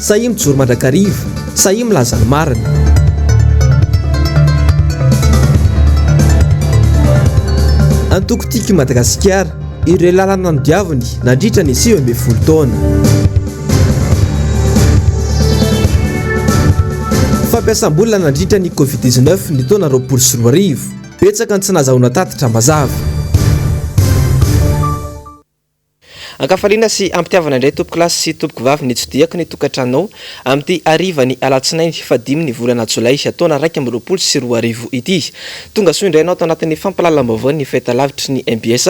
Sahia mijoro mandrakariva. Sahia milaza ny marina. Antoko Tiako i Madagasikara. Ireo lalana nodiaviny nandritra ny sivy ambin'ny folo taona. Fampiasam-bola nandritra ny Covid dix-neuf ny taona roapolo sy roa arivo. Betsaka ny tsy nahazahoana tatitra mazava. Ankafaliana sy am-pitiavana indray tompokolahy sy tompokovavy nitsidihako ny tokantranonao amin'ity harivan'ny alatsinainy fahadimy ny volana jolay taona iraika amby roapolo sy roa arivo ity. Tonga soa indray ianao tao anatin'ny fampahalalam-baovaon'ny fahitalavitry ny mbs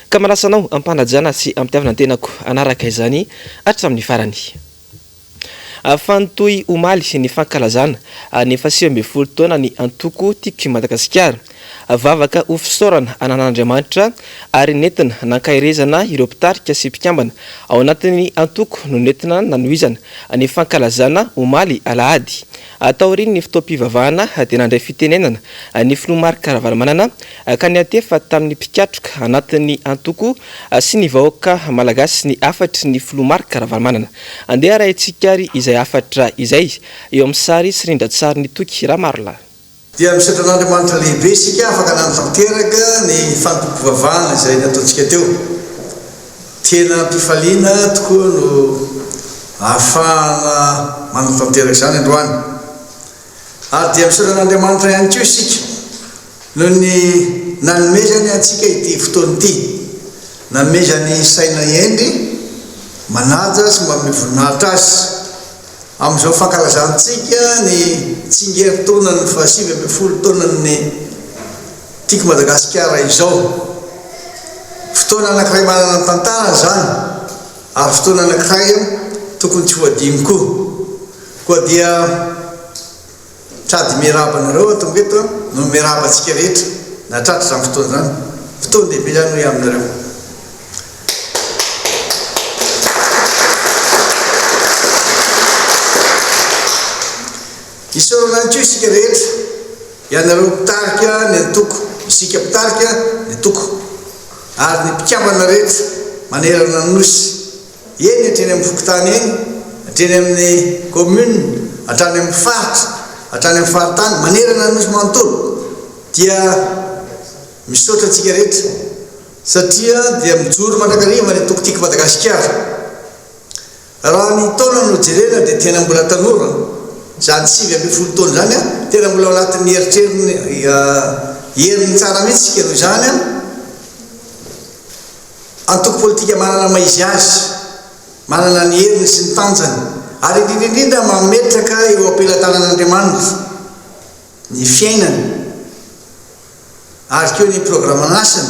ka manasa anao am-panajana sy am-pitiavana ny tenako hanaraka izany hatramin'ny farany. Fany toy omaly ny fankalazana ny fahasivy ambin'ny folo taonan'ny antoko Tiako i Madagasikara. Vavaka ho fisaorana an'Andriamanitra ary nentina nankaherezana ireo mpitarika sy mpikambana ao anatin'ny antoko no nentina nanohizana ny fankalazana omaly alahady Taorian'ny fotoam-pivavahana dia nandray fitenenana ny filoha Marc Ravalomanana ka niantefa tamin'ny mpikatroka anatin'ny antoko sy ny vahoaka malagasy ny hafatry ny filoha Marc Ravalomanana. Andeha arahintsika ary izay hafatra izay eo amin'ny sary sy rindran-tsarin'i Toky Ramarolahy. Dia misaotra an'Andriamanitra lehibe isika afaka nanatanteraka ny fanompoam-pivavahana izay nataontsika teo. Tena am-pifaliana tokoa no ahafahana manatanteraka izany androany. Ary dia misaotra an'Andriamanitra ihany koa isika noho ny nanomezany antsika ity fotoana ity, nanomezany saina hendry manaja sy mamehy voninahitra Azy. Amin'izao fankalazantsika ny tsingerintaonan'ny fahasivy ambin'ny folo taonan'ny Tiko Madagasikara izao, fotoana anankiray manana ny tantarany izany ary fotoana anankiray tokony tsy ho adino koa. Koa dia. Trad Miarahaba anareo aho tonga eto noho ny miarahaba antsika rehetra nahatratra izany fotoana izany. Fotoana lehibe izany hoy aho aminareo. Isaorana ihany koa isika rehetra, ianareo mpitarika ny antoko, isika mpitarika ny antoko, ary ny mpikambana rehetra manerana ny Nosy. Eny hatreny amin'ny fokontany eny, hatreny amin'ny commune, hatrany amin'ny faritra, hatrany amin'ny faritany, manerana ny nosy manontolo dia misaotra antsika rehetra satria dia mijoro mandrakariva ny antoko Tika Madagasikara. Raha ny taona no jerena dia tena mbola tanora, izany sivy ambin'ny folo taona izany an, tena mbola ao anatin'ny eritreriny, herin'ny tsara mihitsy isika noho izany an. Antoko politika manana ny maha izy azy, manana ny heriny sy ny tanjany ary indrindra indrindra mametraka eo am-pelatanan'Andriamanitra ny fiainany ary koa ny programan'asany,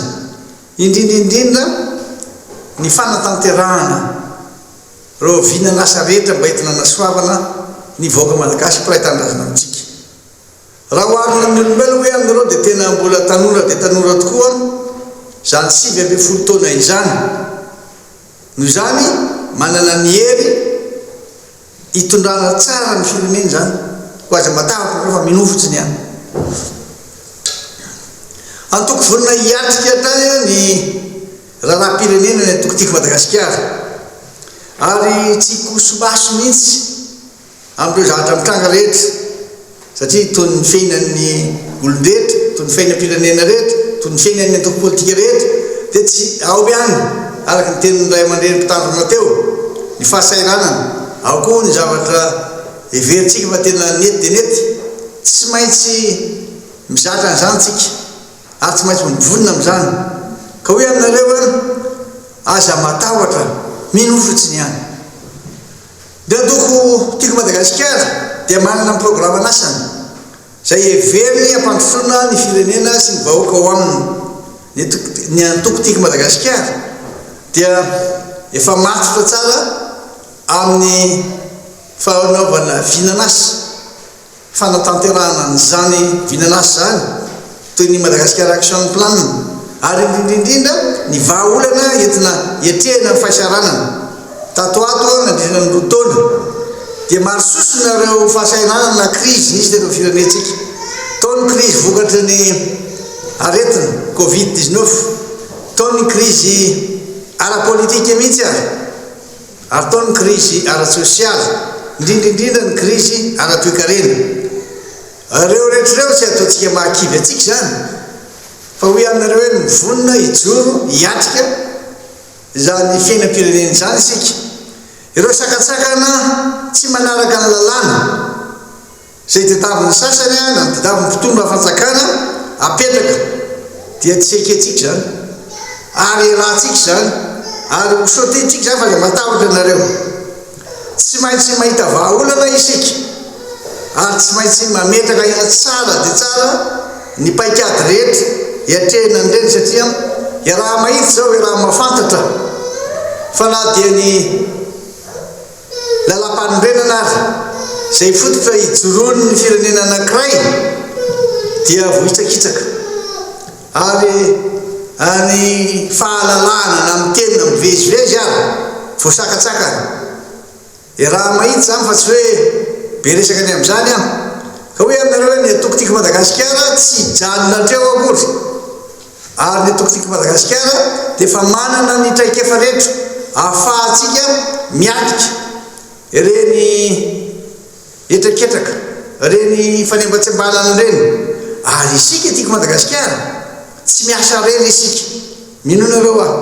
indrindra indrindra ny fanatanterahana ireo vinan'asa rehetra mba entina anasoavana ny vahoaka malagasy mpiray tanindrazana amintsika. Raha oharina amin'ny olombelona hoe amin'ireo dia tena mbola tanora dia tanora tokoa izany sivy ambin'ny folo taona izany. Noho izany, manana ny hery hitondrana tsara ny firenena izany. Koa aza matahotra ianareo fa minoa fotsiny ihany. Antoko vonona hiatrika hatrany ny raharaham-pirenena ny Antoko Tiako Madagasikara ary tsy hikoso-maso mihitsy. Amin'ireo zavatra mitranga rehetra, satria toy ny fiainan'ny olon-drehetra, toy ny fiainam-pirenena rehetra, toy ny fiainan'ny antoko politika rehetra, dia tsy ao ihany, araka ny tenin'ny ray aman-dreny mpitandrina teo, ny fahasahiranana, ao koa ny zavatra heverintsika fa tena nety dia nety. Tsy maintsy mizatra an'izany isika, ary tsy maintsy mivonona amin'izany. Ka hoy aminareo aho, aza matahotra, mino fotsiny ihany. Ny antoko Tiako Madagasikara dia manana ny programan'asany izay heveriny hampandrosoana ny firenena sy ny vahoaka ao aminy. Ny antoko Tiako Madagasikara dia efa matotra tsara amin'ny fanaovana vinan'asa. fanatanterahana an'izany vinan'asa izany, toy ny Madagascar Action Plan, ary indrindra indrindra ny vahaolana entina hiatrehana ny fahisaranana. Tato ho ato, nandritra ny roa taona, dia maro sosona ireo fahasahiranana na krizy nisy teto amin'ny firenentsika. Tao ny krizy vokatry ny aretina Covid dix-neuf, tao ny krizy ara-politika mihitsy aza. ary tao ny krizy ara-tsosialy, indrindra indrindra ny krizy ara-toekarena. Ireo rehetra ireo tsy ataontsika mahakivy antsika izany, fa hoy aminareo hoe mivonona hijoro hiatrika izany fiainam-pirenena izany isika. Ireo sakantsakana tsy manaraka ny lalàna. Izay tadiavin'ny sasany na tadiavin'ny fitondram-panjakana apetraka dia tsy ekentsika izany ary iarahantsika izany ary ho sauter-ntsika izany fa dia matahotra anareo. Tsy maintsy mahita vahaolana isika ary tsy maintsy mametraka aina tsara dia tsara ny paikady rehetra hiatrehina an'ireny satria iaraha-mahita izao, iaraha-mahafantatra fa na dia ny. Lalampanorenana ary izay fototra hijoroan' ny firenena anankiray dia vohitsakitsaka ary ny fahalalahana na mitenina mivezivezy ary voasakatsakana. Iaraha mahitsy izany fa tsy hoe be resaka ny amin' izany aho ka hoe aminareo hoe ny antoko Tiko Madagasikara tsy hijanona hatreo akory. Ary ny Tokifiky Madagasikara dia efa manana ny traikefa rehetra ahafahantsika miatrika ireny hetraketraka, ireny fanembatsembanana ireny. Ary isika Tiky Madagasikara, tsy miasa irery isika. Mino anareo aho,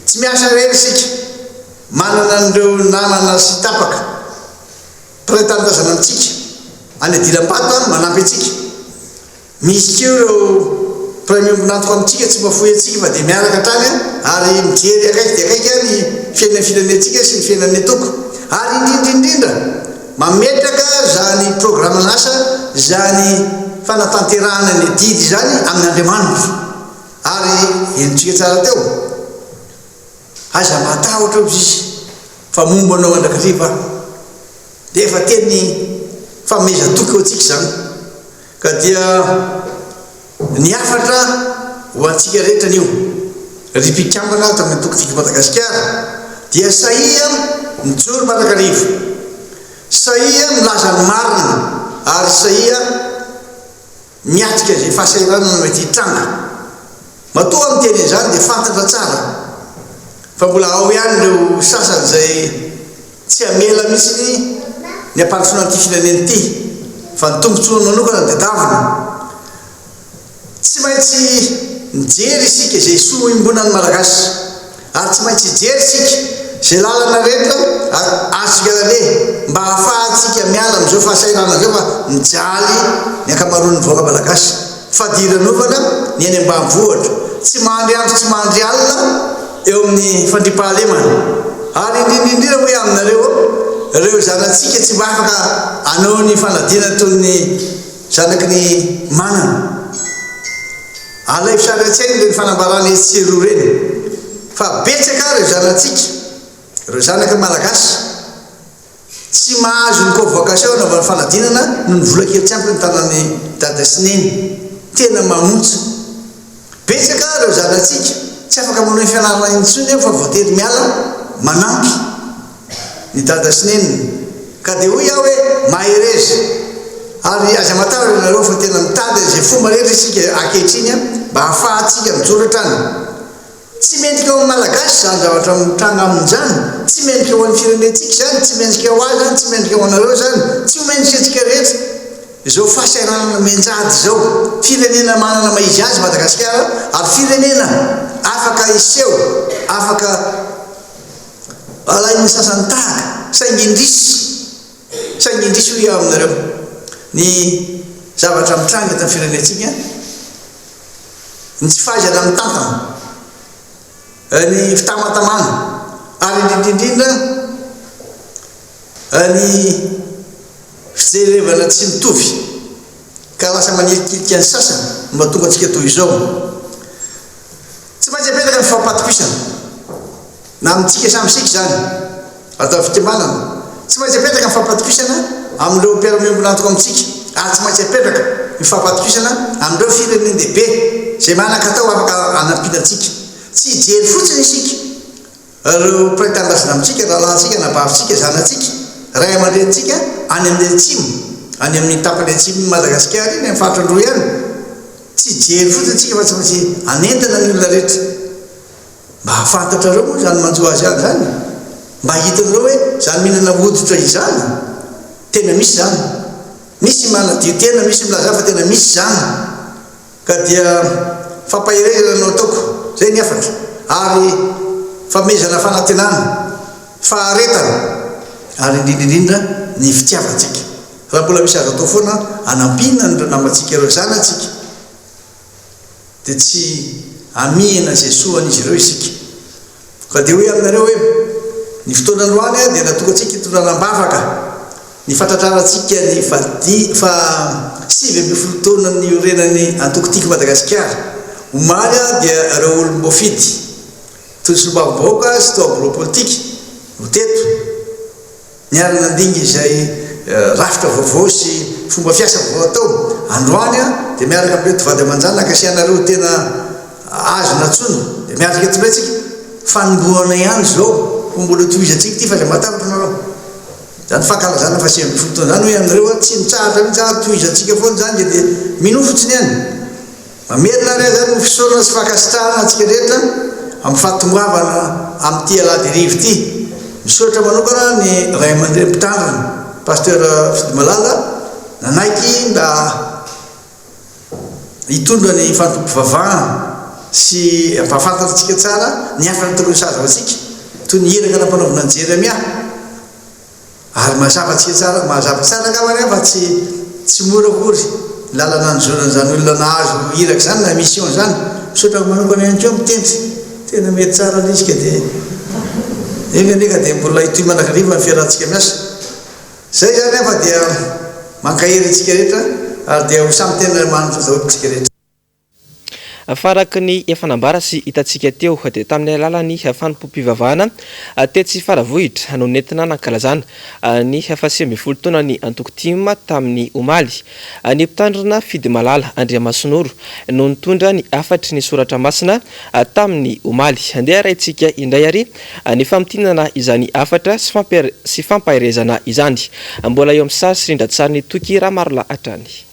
tsy miasa irery isika. Manana an'ireo namana sy tapaka, mpiray tanindrazana amintsika, any Adilambato any, manampy antsika. Misy koa ireo mpiray miombon'antoka amintsika tsy mahafoy antsika fa dia miaraka hatrany ary mijery akaiky dia akaiky ny fiainan'ny firenentsika sy ny fiainan'ny antoko. Ary indrindrindrindra, mametraka izany programan'asa izany fanatanterahana ny adidy izany amin'Andriamanitra. Ary henontsika tsara teo, Aza matahotra hozy Izy, fa momba anao andrakariva aho. Dia efa teny fanomezan-toky ho antsika izany. Ka dia ny hafatra ho antsika rehetra anio, ry mpikambana ato amin'ny Antoko Figy Madagasikara, dia sahia mijoro manakarivo, sahia milaza ny marina ary sahia miatrika izay fahasahiranana mety hitranga. Matoa aho miteny an'izany dia fantatra tsara fa mbola ao ihany ireo sasany izay. Tsy hamela mihitsy ny hampandrosoana an'ity firenena ity fa ny tombotsoany manokana dia davina. Tsy maintsy mijery isika izay soa hoimbonan'ny Malagasy ary tsy maintsy hijery isika izay lalana rehetra azontsika laleha mba hahafahantsika miala amin'izao fahasahiranana izao fa mijaly ny ankamaroan'ny vahoaka Malagasy. Fadiranovana ny eny ambanivohitra, tsy mahandry andro tsy mahandry alina eo amin'ny fandriampahalemana. Ary indrindra indrindra hoy aminareo, ireo zanatsika tsy mba afaka hanao ny fanadinana toy ny zanaky ny manana. Alaivo sary an-tsaina ireny fanambarana etsy sy eroa ireny, fa betsaka ireo zanatsika, ireo zanaky ny Malagasy, Tsy mahazo ny convocation anaovana fanadinana noho ny vola kely tsy ampy ny tanan'ny dada sy neny. Tena mamontsa. Betsaka ireo zanatsika tsy afaka manohy fianarana intsony eo fa voatery miala manampy ny dada sy neniny. Ka dia hoy aho hoe mahereza. Ary aza matahotra ianareo fa tena mitady an'izay fomba rehetra isika ankehitriny mba hahafahantsika mijoro hatrany Tsy mendrika ho an'ny Malagasy izany zavatra mitranga aminy izany, tsy mendrika ho an'ny firenentsika izany, tsy mendrika ho ahy izany, tsy mendrika ho anareo izany, tsy ho mendrika antsika rehetra. Izao fahasahiranana mianjady izao, firenena manana maha izy azy Madagasikara ary firenena afaka hiseho, afaka alain'ny sasany tahaka, saingy indrisy. Saingy indrisy hoy aho aminareo, ny zavatra mitranga eto amin'ny firenentsika, ny tsy fahaizana mitantana, ny fitamatamana ary indrindra indrindra ny fijerevana tsy mitovy ka lasa manilikilika ny sasany no mahatonga antsika toy izao. Tsy maintsy apetraka ny fifampatokisana. Na amintsika samy isika izany. Atao fikambanana. Tsy maintsy apetraka ny fampatokisana amin'ireo mpiara-miombon'antoka amintsika, ary tsy maintsy apetraka ny fampatokisana amin'ireo firenen-dehibe izay manan-katao afaka hanampiana antsika. Tsy hijery fotsiny isika ireo mpiray tanindrazana amintsika, rahalahintsika, anabavintsika, zanatsika, ray aman-drenintsika any amin'ny atsimo, any amin'ny tapany atsimon'i Madagasikara iny, amin'ny faritra Androy any. Tsy hijery fotsiny isika fa tsy maintsy hanentana ny olona rehetra. Mba hahafantatrareo moa izany manjo azy any izany e! Mba hitanareo hoe izany mihinana hoditra izany, tena misy izany. Misy manadio tena, misy milaza fa tena misy izany. Ka dia fampaherezana no ataoko, izay ny hafatra, ary famehezana fanantenana, faharetana, ary indrindra indrindra ny fitiavantsika. Raha mbola misy azo atao foana hanampiana an'ireo namantsika, ireo zanatsika, dia tsy hamihina izay soa an'izy ireo isika. Fa dia hoy aminareo hoe, Ny fotoana androany dia natokantsika hitondrana am-bavaka ny fahatratrarantsika ny faha sivy ambin'ny folo taona niorenan'ny Antoko Tiako Madagasikara. Omaly dia ireo olom-boafidy, toy ny Solombavambahoaka sy toa birao politika, no teto. Niara nandinga izay rafitra vaovao sy fomba fiasa vaovao atao. Androany aho dia miaraka amin'ireo tovady aman-janaka sy ianareo tena azo nantsoina dia miatrika eto indray tsika. Fanombohana ihany izao koa mbola hotohizantsika ity fa izay mahatakatra nareo izany fankalazana faha sivy ambin'ny folo taona izany hoy anareo aho tsy mitsahatra mihitsy ary tohizantsika foana izany dia minoa fotsiny any. Mamerina ary aza ny fisaorana sy fankasitrahana antsika rehetra amin'ny fahatongoavana amin'ity alahadiriva ity. Misaotra manokana ny Ray aman-dReny Mpitandrina, Pasteur Fidimalala, nanaiky mba hitondra ny fandoavam-pivavahana sy hampahafantatra antsika tsara ny hafan'ny tokony ho sazy ho antsika, toy ny iraka nampanaovina an'i Jeremia. Ary mazava tsy tsara, mazava tsara angamba anie fa tsy tsy mora akory ny lalana nijoro an'izany olona nahazo iraka izany na mission izany. Misaotra amiko manokana ihany koa mitendry, tena mety tsara ilay izy ka dia enga anie ka dia mbola hitohy mandrakariva ny fiarahantsika miasa. Izay izany an fa dia mankahery antsika rehetra ary dia ho samy tena manana taotaola isika rehetra. Fa araka ny efa nambara sy hitantsika teo dia tamin'ny alalan'ny fanompoam-pivavahana tetsy Faravohitra no nentina nankalazana ny faha sivy ambin'ny folo taonan'ny antoko tim tamin'ny omaly. Ny mpitandrina Fidimalala Andriamasinoro no nitondra ny hafatry ny soratra masina tamin'ny omaly. Andeha arahintsika indray ary ny famintinana izany hafatra sy fampaherezana izany. Mbola eo amin'ny sary sy rindran-tsarin'i Toky Ramarolahatrany.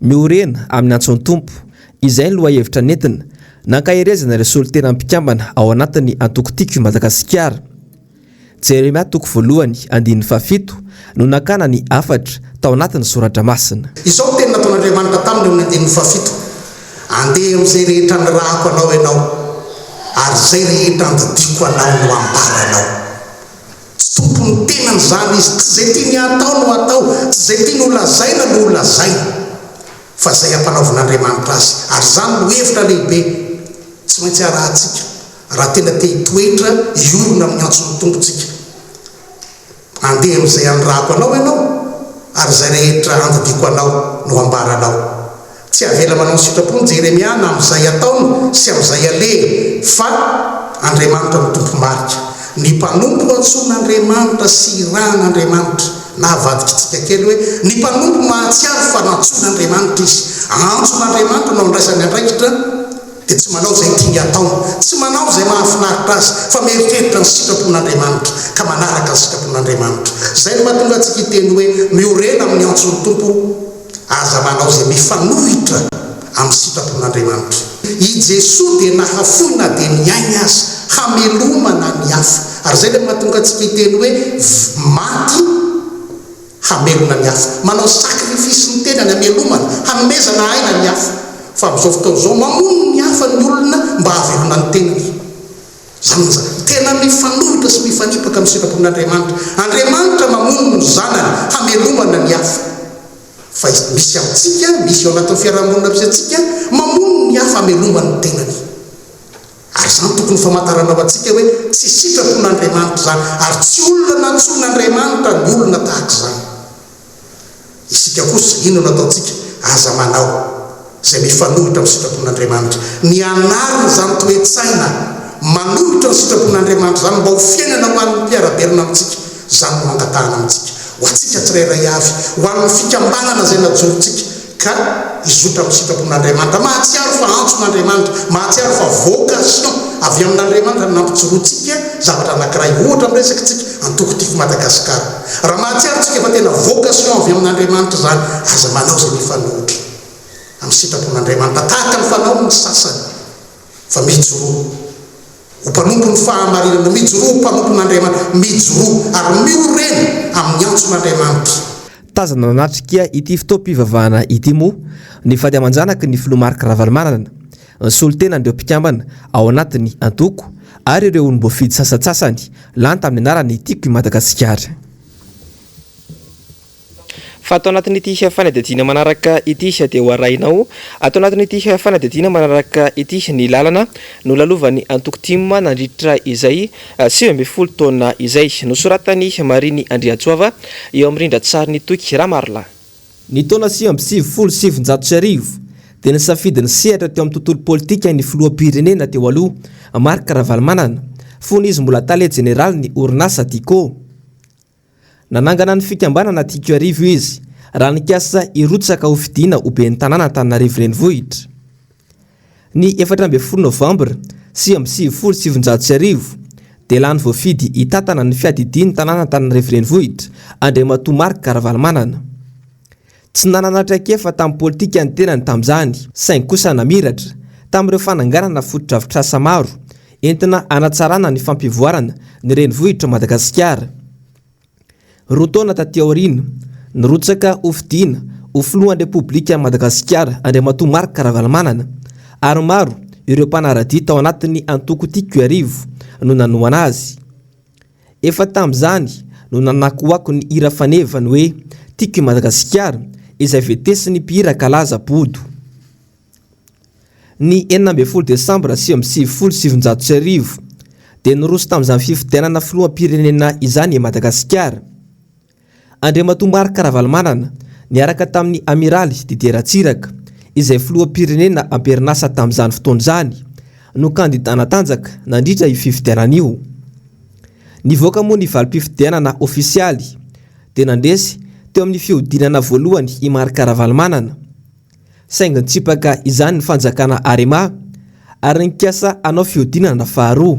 Miorena amin'ny antson'ny Tompo. Izay ny lohahevitra nentina nankaherezana ireo solotenan'ny mpikambana ao anatin'ny antoko Tiako i Madagasikara. Jeremia toko voalohany andininy fahafito no nakana ny hafatra tao anatin'ny soratra masina. Izao no teny nataon'Andriamanitra taminy eo amin'ny andininy fahafito, Andeha amin'izay rehetra nirahako anao ianao, ary izay rehetra nodidiako anao no hambaranao. Tsy tompon'ny tenany izany izy. Tsy izay tiany hatao no hatao, tsy izay tiany holazaina no holazaina, fa izay ampanaovin'Andriamanitra azy. Ary izany no hevitra lehibe tsy maintsy arahantsika raha tena te hitoetra hiorina amin'ny antson'ny Tompo tsika. Andeha amin'izay anirahako anao ianao, ary izay rehetra andidiako anao no hambaranao. Tsy avela manao sitrapo ny Jeremia na amin'izay ataony sy amin'izay alehany, fa Andriamanitra no Tompo marika. Ny mpanompo ho antsoin'Andriamanitra sy irahan'Andriamanitra. Na avadikitsika kely hoe ny mpanompo mahatsiaro fa nantsoin'Andriamanitra izy, antson'Andriamanitra no andraisany andraikitra, dia tsy manao izay tiany hatao, tsy manao izay mahafinaritra azy, fa mieritreritra ny sitrapon'Andriamanitra ka manaraka ny sitrapon'Andriamanitra. Izay no mahatonga antsika hiteny hoe, Miorena amin'ny antson'ny Tompo. Aza manao izay mifanohitra amin'ny sitrapon'Andriamanitra. I Jesoa dia nahafoy na dia ny ainy aza, hamelomana ny hafa. Ary izay ilay mahatonga antsika hiteny hoe maty hamelona ny hafa. Manao sacrifice ny tenany hamelomana, hanomezana aina ny hafa. Fa amin'izao fotoana izao, mamono ny hafa ny olona mba hahavelona ny tenany. Izany no zava-, tena mifanohitra sy mifanipaka amin'ny sitrapon'Andriamanitra. Andriamanitra mamono ny zanany hamelomana ny hafa. Fa izy, misy amintsika, misy ao anatin'ny fiaraha-monina misy antsika, mamono ny hafa hamelomany ny tenany. Ary izany tokony ho famantarana ho antsika hoe tsy sitrapon'Andriamanitra izany, ary tsy olona nantsoin'Andriamanitra ny olona tahaka izany. Isika kosa, inona no ataontsika? Aza manao izay mifanohitra amin'ny sitrapon'Andriamanitra. Mianara izany toe-tsaina manohitra ny sitrapon'Andriamanitra izany mba ho fiainana ho an'ny mpiara-belona amintsika. Izany no angatahana amintsika, ho antsika tsirairay avy, ho an'ny fikambanana izay najorontsika. Ka hizotra amin'ny sitrapon'Andriamanitra. Mahatsiaro fa antson'Andriamanitra. Mahatsiaro fa vocation avy amin'Andriamanitra ny nampijoroantsika zavatra anankiray. Ohatra amin'ny resakitsika Antoko Tifo Madagasikara. Raha mahatsiaro tsika fa tena vocation avy amin'Andriamanitra izany, aza manao izay mifanohitra amin'ny sitrapon'Andriamanitra, tahaka ny fanaon'ny sasany, fa mijoroa ho mpanompon'ny fahamarinana, mijoroa ho mpanompon'Andriamanitra, mijoroa ary miorena amin'ny antson'Andriamanitra. Tazana nanatrika ity fotoam-pivavahana ity moa ny vady aman-janaky ny filoha Marc Ravalomanana, ny solontenan'ireo mpikambana ao anatin'ny antoko ary ireo olom-boafidy sasantsasany lany tamin'ny anaran'ny Tiako i Madagasikara. Fa ato anatin'ity fanadihadiana manaraka ity dia ho arahinao, ato anatin'ity fanadihadiana manaraka ity ny lalana nolalovan'ny antoko tim nandritra izay sivy ambin'ny folo taona izay, nosoratan'i Marine Andriantsoava eo amin'ny rindran-tsarin'i Toky Ramarolahy. Ny taona sivy amby sivifolo sy sivinjato sy arivo dia nisafidy ny sehatra teo amin'ny tontolo politika ny filoham-pirenena teo aloha, Marc Ravalomanana, fony izy mbola tale jeneralin'ny orinasa Dico. Nanangana ny fikambanana Tiko Iarivo izy, raha nikasa hirotsaka ho fidiana ho ben'ny tanàna Antananarivo Renivohitra. Ny efatra ambin'ny folo novambra sivy amby sivifolo sy sivinjato sy arivo, dia lany voafidy hitantana ny fiadidian'ny tanàna Antananarivo Renivohitra, Andriamatoa Marc Ravalomanana. Tsy nanana traikefa tamin'ny politika ny tenany tamin'izany, saingy kosa namiratra, tamin'ireo fananganana fotodrafitrasa maro, entina hanatsarana ny fampivoarana ny renivohitr'i Madagasikara. Roa taona taty aoriana, nirotsaka ho fidiana ho filohan'ny Repoblikan'i Madagasikara Andriamatoa Marc Ravalomanana, ary maro ireo mpanara-dia tao anatin'ny antoko Tiako Iarivo no nanohana azy. Efa tamin'izany no nanakoako ny hira faneva ny hoe Tiako i Madagasikara izay vetesin'ny mpihira kalaza Bodo. Ny enina ambin'ny folo desambra sivy amby sivifolo sy sivinjato sy arivo dia niroso tamin'izany fifidianana filoham-pirenena izany i Madagasikara. Andriamatoa Marc Ravalomanana niaraka tamin'ny Amiraly Didier Ratsiraka, izay filoham-pirenena am-perinasa tamin'izany fotoana izany, no kandida natanjaka nandritra io fifidianana io. Nivoaka moa ny valim-pifidianana ofisialy, dia nandresy teo amin'ny fihodinana voalohany i Marc Ravalomanana. Saingy nitsipaka izany ny fanjakana Arema, ary nikasa hanao fihodinana faharoa.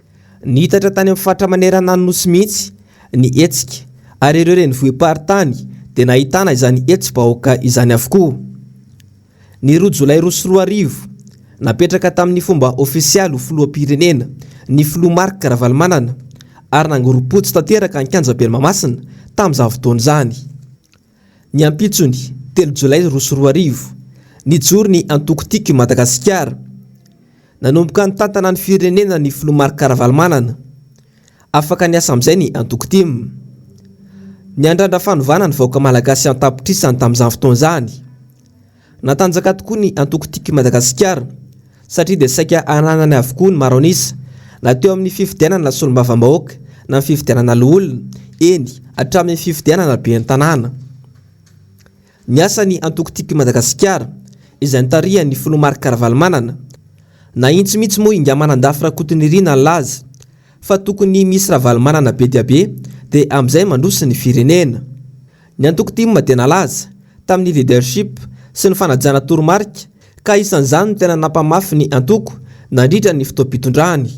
Niitatra tany amin'ny faritra manerana ny Nosy mihitsy ny hetsika ary ireo renivohi-paritany dia nahitana izany hetsi-bahoaka izany avokoa. Ny roa jolay roa sy roa arivo, napetraka tamin'ny fomba ofisialy ho filoham-pirenena ny filoha Marc Ravalomanana ary nangorom-potsy tanteraka ny kianjaben'i Mahamasina tamin'izany fotoana izany. Ny ampitsony, telo jolay roa sy roa arivo, nijoro ny antoko Tiako i Madagasikara. Nanomboka nitantana ny firenena ny filoha Marc Ravalomanana. Afaka niasa amin'izay ny antoko tim. Niandrandra fanovana ny vahoaka malagasy an-tapitrisany tamin'izany fotoana izany. Natanjaka tokoa ny antoko Tiako i Madagasikara satria dia saika ananany avokoa ny maro an'isa, na teo amin'ny fifidianana solombavambahoaka na ny fifidianana loholona, eny, hatramin'ny fifidianana ben'ny tanàna. Niasa ny antoko Tiako i Madagasikara, izay nitarihan'ny filoha Marc Ravalomanana. Nahitsy mihitsy moa Ingamanandafy Rakotonirina nilaza fa tokony misy Ravalomanana be dia be dia amin'izay mandroso ny firenena. Ny antoko tim dia nalaza, tamin'ny leadership sy ny fanajana toromarika, ka isan'izany ny tena nampamafy ny antoko nandritra ny fotoam-pitondrany.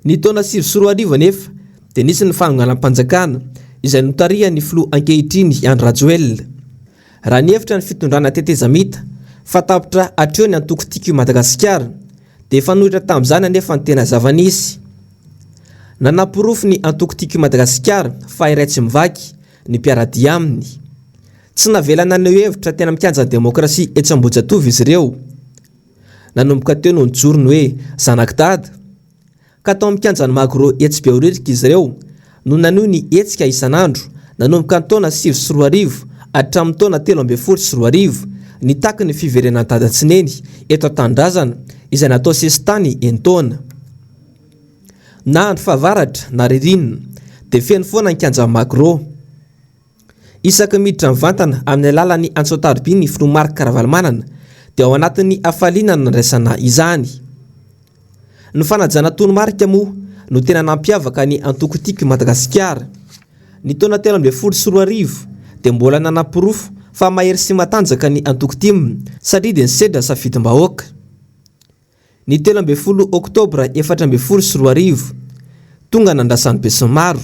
Ny taona sivy sy roa arivo anefa dia nisy ny fanonganam-panjakana izay notarihan'ny filoha ankehitriny Andry Rajoelina. Raha nihevitra ny fitondrana tetezamita fa tapitra hatreo ny antoko Tiako i Madagasikara dia fanohitra tamin'izany anefa ny tena zava-nisy. Nanaporofo ny antoko Tiako i Madagasikara fa iray tsy mivaky ny mpiara-dia aminy. Tsy navela naneho hevitra tena mikanjan'ny demokrasia etsy Ambohijatovo izy ireo. Nanomboka teo no nijoro ny hoe zanak'i Dada. Ka tao amin'ny kianjan'ny Magro etsy Behoririka izy ireo no naneho ny hetsika isan'andro nanomboka ny taona sivy sy roa arivo hatramin'ny taona telo ambin'ny folo sy roa arivo nitaky ny fiverenan'i Dada tsy neny eto an-tanindrazana izay natao sesitany enin-taona. Na andro fahavaratra na ririnina dia feno foana ny kianjan'ny Magro. Isaky ny miditra mivantana amin'ny alalan'ny antso-antaroby ny filoha Marc Ravalomanana dia ao anatin'ny hafaliana no nandraisana izany. Ny fanajana toromarika moa no tena nampiavaka ny antoko Tiako i Madagasikara. Ny taona telo ambin'ny folo sy roa arivo dia mbola nanaporofo fa mahery sy matanjaka ny antoko Tim satria dia nisedra safidim-bahoaka. Ny telo ambin'ny folo oktobra efatra ambin'ny folo sy roa arivo, tonga nandrasan'ny besinimaro,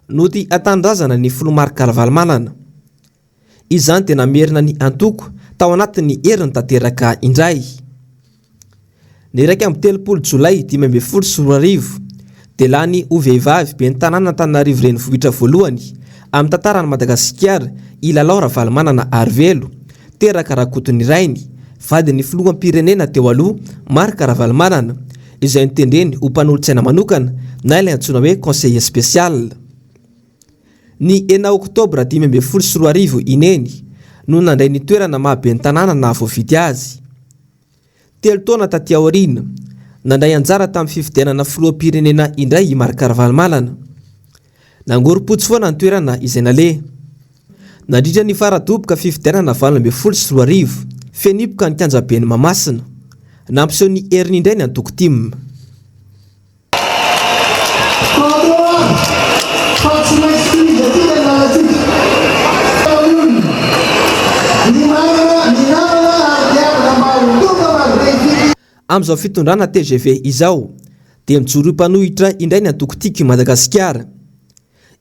nody an-tanindrazana ny filoha Marc Ravalomanana. Izany dia namerina ny antoko tao anatin'ny heriny tanteraka indray. Ny iraika amby telopolo jolay dimy ambin'ny folo sy roa arivo, dia lany ho vehivavy ben'ny tanàna Antananarivo renivohitra voalohany amin'ny tantaran'i Madagasikara i Lalao Ravalomanana Arivelo, teraka Rakotonirainy, vadin'ny filoham-pirenena teo aloha Marc Ravalomanana, izay notendreny ho mpanolotsaina manokana na ilay antsoina hoe conseiller spécial. Ny enina oktobra dimy ambin'ny folo sy roa arivo i Neny no nandray ny toerana maha ben'ny tanàna nahavoafidy azy. Telo taona taty aoriana, nandray anjara tamin'ny fifidianana filoham-pirenena indray i Marc Ravalomanana. Nangorom-potsy foana ny toerana izay naleha. Nandritra ny fara-doboka fifidianana valo ambin'ny folo sy roa arivo, feno hipoka ny kianjaben'i Mahamasina. Nampiseho ny heriny indray ny antoko tim. Amin'izao fitondrana tgv izao dia mijoro ho mpanohitra indray ny antoko Tiako i Madagasikara.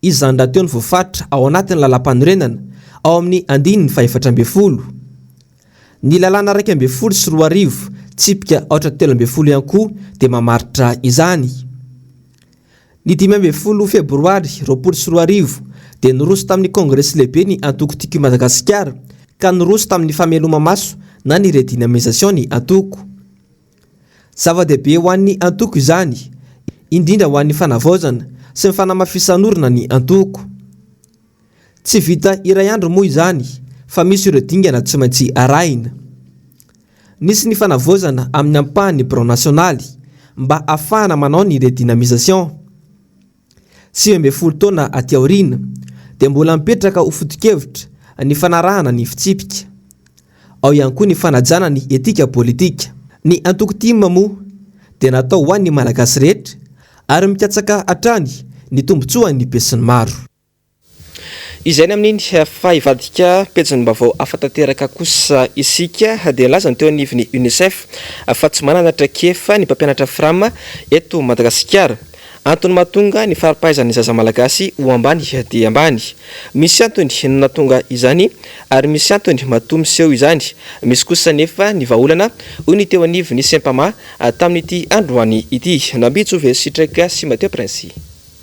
Izany rahateo no voafaritra ao anatin'ny Lalàmpanorenana ao amin'ny andininy fahefatra ambin'ny folo. Ny Lalàna iraika ambin'ny folo sy roa arivo, tsipika aotra telo ambin'ny folo ihany koa dia mamaritra izany. Ny dimy ambin'ny folo febroary roapolo sy roa arivo dia niroso tamin'ny Kongresy Lehibe ny Antoko Tiko Madagasikara ka niroso tamin'ny fameloma-maso na ny redynamisation ny Antoko. Zava-dehibe ho an'ny antoko izany, indrindra ho an'ny fanavaozana sy ny fanamafisan'orina ny antoko. Tsy vita iray andro moa izany fa misy ireo dingana tsy maintsy arahina. Nisy ny fanavaozana amin'ny ampahan'ny birao nasionaly mba hahafahana manao ny redynamisation. Sivy ambin'ny folo taona aty aoriana dia mbola mipetraka ho foto-kevitra ny fanarahana ny fitsipika. Ao ihany koa ny fanajana ny etika politika. Ny antoko tim moa dia natao ho an'ny Malagasy rehetra ary mikatsaka hatrany ny tombontsoan'ny besinimaro. Izay ny amin'iny. Fa hivadika pejin'ny vaovao hafa tanteraka kosa isika, dia nilaza ny teo anivon'ny Unicef fa tsy manana traikefa ny mpampianatra Fram eto Madagasikara. Antony mahatonga ny fari-pahaizan'ny zaza malagasy ho ambany dia ambany. Misy antony ny nahatonga izany ary misy antony matoa miseho izany. Misy kosa anefa ny vahaolana, hoy ny teo anivon'ny Sempama tamin'ity androany ity. Nambijo ve sitraika sy Mateo Prince?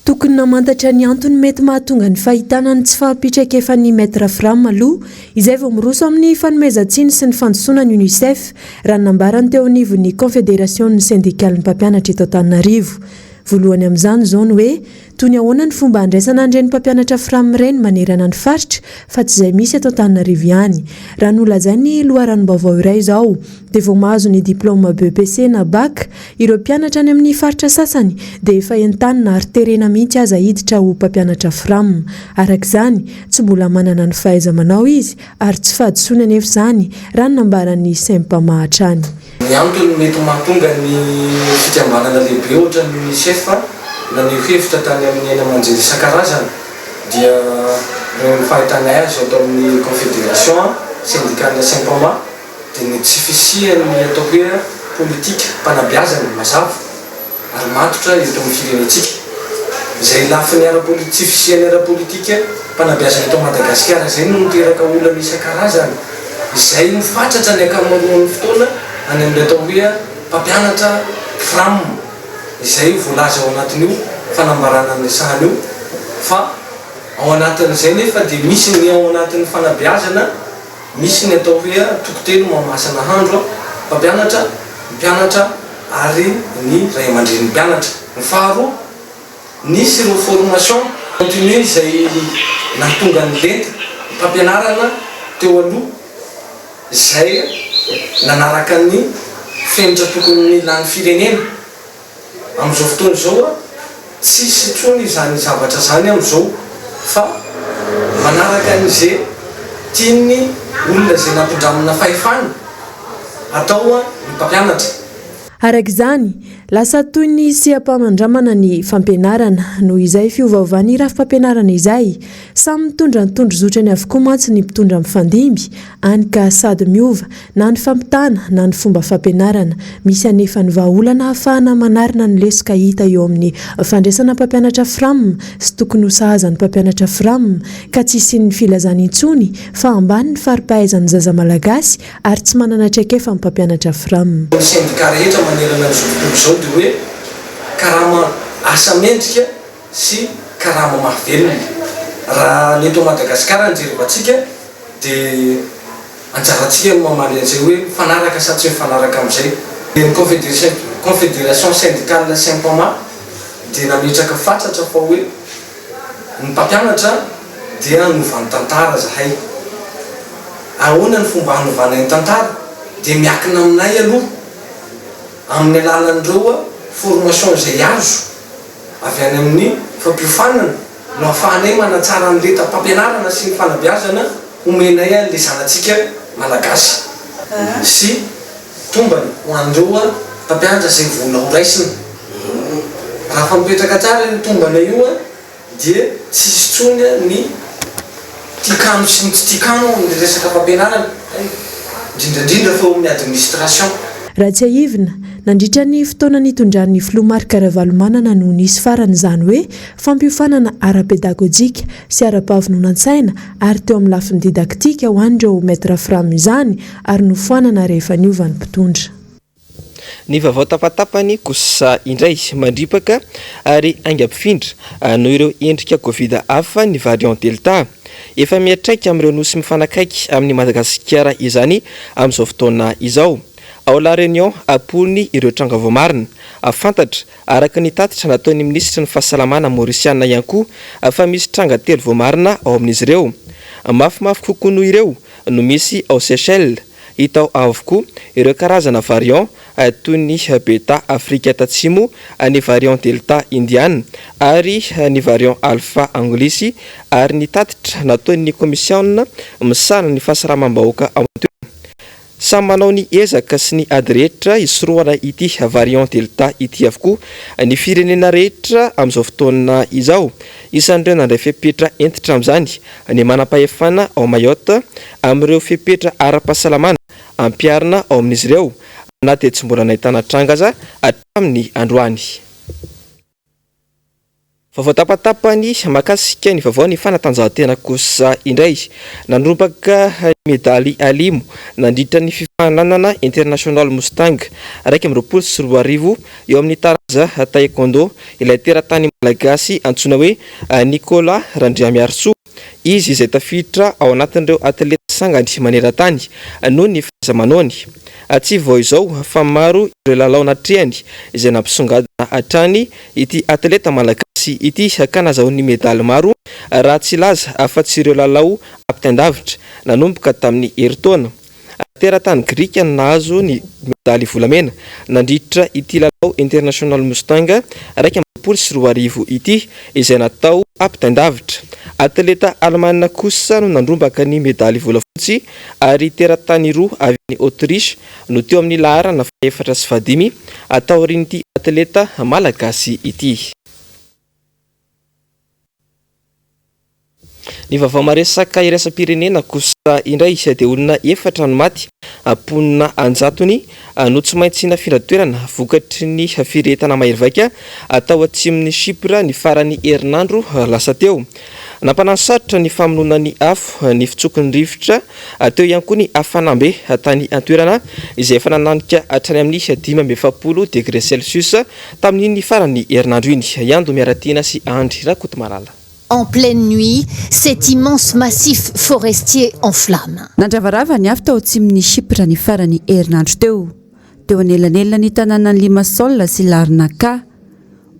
Tokony namantatra ny antony mety mahatonga ny fahitana ny tsy fahampitraikefan'ny Maitre Fram aloha, izay vao miroso amin'ny fanomezan-tsiny sy ny fandisoana ny Unicef, raha ny nambarany teo anivon'ny Konfederasion'ny Sendikalin'ny Mpampianatra eto Antananarivo. Voalohany amin'izany izao ny hoe, toy ny ahoana ny fomba handraisana an'ireny mpampianatra Fram ireny manerana ny faritra fa tsy izay misy eto Antananarivo ihany. Raha nolazain'ny loharanom-baovao iray izao, dia vao mahazo ny diplaoma BEPC na Bac ireo mpianatra any amin'ny faritra sasany dia efa entanina ary terena mihitsy aza hiditra ho mpampianatra Fram. Araka izany, tsy mbola manana ny fahaiza-manao izy ary tsy fahadisoany anefa izany, raha ny nambaran'ny Sempama hatrany. Ny antony mety mahatonga ny fikambanana lehibe ohatra ny Unicef naneho hevitra tany amin'ny haino aman-jery isan-karazany dia noho ny fahitanay azy ato amin'ny Confederation Sendikana Sempama, dia ny tsy fisian'ny atao hoe politikam-panabeazana mazava ary matotra eto amin'ny firenentsika. Izay lafiny ara-poli, tsy fisian'ny ara-politikam-panabeazana eto Madagasikara izay no niteraka olana isan-karazany izay no fatratra ny ankamaroan'ny fotoana any amin'ny atao hoe mpampianatra fram izay voalaza ao anatin'io fanambarana niresahana io fa ao anatin'izay nefa dia misy ny ao anatin'ny fanabeazana Misy ny atao hoe antoko telo mahamasa nahandro, mpampianatra, ny mpianatra ary ny ray aman-drenin'ny mpianatra. Ny faharoa, nisy ireo formation continue izay nahatonga ny lenta mpampianarana teo aloha izay nanaraka ny fenitra tokony ho lany firenena. Amin'izao fotoana izao a, tsisy intsony izany zavatra zany amin'izao fa manaraka an'ze tian'ny olona ze nampindramina fahefana atao a ny mpampianatra. Araka izany, lasa toy ny seha-panandramana ny fampianarana. Noho izay fiovaovan'ny rafi-pampianarana izay, samy mitondra ny tondrozotrany avokoa mantsy ny mpitondra mifandimby any ka sady miova na ny fampitana na ny fomba fampianarana. Misy anefa ny vahaolana ahafahana manarina ny lesoka hita eo amin'ny fandraisana mpampianatra Fram sy tokony ho sahaza ny mpampianatra Fram ka tsy hisian'ny filazana intsony fa ambany ny fari-pahaizan'ny zaza malagasy ary tsy manana traikefa ny mpampianatra Fram. Ny sendika rehetra manerana izao tontolo izao dia hoe karama asa mendrika. sy karama mahavelona. Raha ny eto Madagasikara no jerevantsika dia anjarantsika no mamaly an'izay hoe mifanaraka sa tsy mifanaraka amin'izay. Ny Confederation Syndicale Sympama dia nametraka fatratra fa hoe ny mpampianatra dia hanova ny tantara zahay. Ahoana ny fomba hanovana ny tantara? Dia miakina aminay aloha amin'ny alalan'ireo formation izay azo. Avy any amin'ny fampiofanana no ahafahanay manatsara ny lentam-pampianarana sy ny fanabeazana omenay an'ilay zanatsika Malagasy sy tombany ho an'ireo mpampianatra izay vola ho raisina. Raha fa mipetraka tsara io tombana io dia tsy hisy intsony ny. Tia kamo sy ny tsy tia kamo ao amin'ny resaka fampianarana, indrindra indrindra fa ao amin'ny administration. Raha tsiahivina, nandritra ny fotoana nitondran'ny Filoha Marc Ravalomanana no nisy farany izany hoe fampiofanana ara-pedagojika sy ara-pahavononan-tsaina ary teo amin'ny lafiny didaktika ho an'ireo Maître Fram izany ary nofoanana rehefa niova ny mpitondra. Ny vaovao tapatapany kosa indray mandripaka ary aingam-pifindra noho ireo endrika Covid hafa ny variant Delta. Efa mihatraika amin'ireo nosy mifanakaiky amin'i Madagasikara izany amin'izao fotoana izao. Ao La Réunion ampony ireo tranga voamarina. Fantatra, araka ny tatitra nataon'ny minisitry ny Fahasalamana Maorisiana ihany koa, fa misy tranga telo voamarina ao amin'izy ireo. Mafimafy kokoa noho ireo no misy ao Seychelles. Hita ao avokoa ireo karazana variant toy ny Beta Afrika Tatsimo, ny variant Delta Indiana ary ny variant Alpha Anglisy ary ny tatitra nataon'ny Komisiaona misahana ny fahasalamam-bahoaka ao an-toerana. Samy manao ny ezaka sy ny ady rehetra hisorohana ity variant Delta ity avokoa ny firenena rehetra amin'izao fotoana izao. Isan'ireo nandray fepetra hentitra amin'izany ny manam-pahefana ao Mayotte amin'ireo fepetra ara-pahasalamana ampiharina ao amin'izy ireo na dia tsy mbola nahitana tranga aza hatramin'ny androany. Vaovao tapatapany mahakasika ny vaovao ny fanatanjahantena kosa indray. Nanorambaka ny medaly alimo nandritra ny fifaninanana International Mustang iraika amby roapolo sy roa arivo eo amin'ny taranja Taekwondo ilay teratany malagasy antsoina hoe Nicolas Randriamiarisoa, izy izay tafiditra ao anatin'ireo atleta sangany maneran-tany noho ny fahaiza-manaony. Tsy vao izao fa maro ireo lalao natrehany izay nampisongadina hatrany ity atleta malagasy ity ka nahazoany medaly maro raha tsy hilaza afa-tsy ireo lalao ampitain-davitra nanomboka tamin'ny herintaona Teratany grika no nahazo ny medaly volamena nandritra ity lalao International Mustang iraika amby roapolo sy roa arivo ity izay natao ampitain-davitra. Atleta alemana kosa no nandrombaka ny medaly volafotsy ary teratany roa avy any Autriche no teo amin'ny laharana fahefatra sy fahadimy taorian'ity atleta malagasy ity. Ny vaovao maresaka iraisam-pirenena kosa indray dia olona efatra no maty, mponina an-jatony no tsy maintsy nafindra toerana vokatry ny firehetana mahery vaika tao atsimon'i Chypre ny faran'ny herinandro lasa teo. Nampanasarotra ny famonoana ny afo ny fitsoko ny rivotra, teo ihany koa ny hafanambe tany an-toerana izay efa nananika hatrany amin'ny dimy amby efapolo degre celsius Tamin'iny faran'ny herinandro iny, i Ando Miaratiana sy Andry Rakotomalala. en pleine nuit cet immense massif forestier en flamme. Nandravarava ny afo tao atsimon'i Chypre ny faran'ny herinandro teo, teo anelanelan'ny tanànan'i Limassol sy Larnaca.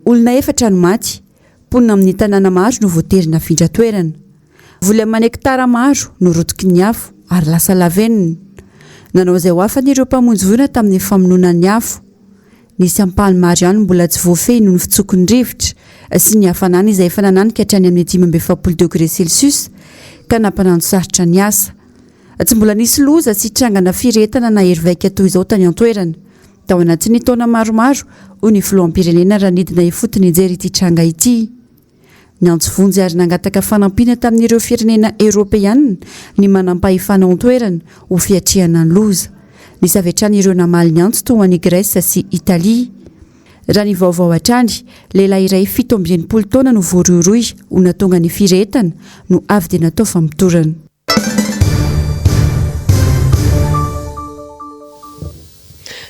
Olona efatra no maty, mponina amin'ny tanàna maro no voatery nafindra toerana. Voly aman' hektara maro no rotiky ny afo ary lasa lavenona. Nanao izay ho afany ireo mpamonjy voina tamin'ny famonoana ny afo. Nisy ampahany maro ihany mbola tsy voafehy noho ny fitsoky ny rivotra sy ny hafanana izay efa nananika hatrany amin'ny dimy amby efapolo degre celsius ka nampanantosarotra ny asa. Tsy mbola nisy loza sy trangana firy entana nahery vaika toy izao tany an-toerana tao anatin'ny taona maromaro, hoy ny filoham-pirenena raha nidina ifotony nijery ity tranga ity. Niantso vonjy ary nangataka fanampiana tamin'ireo firenena Eoropeana ny manampahefana ao an-toerana ho fiatrehana ny loza. Nisy avy hatrany ireo namaly ny antso toa an'i Grèce sy Italie. Raha ny vaovao hatrany, lehilahy iray fito amby enimpolo taona no voarohirohy ho natonga ny firehetana no avy dia natao famotorana.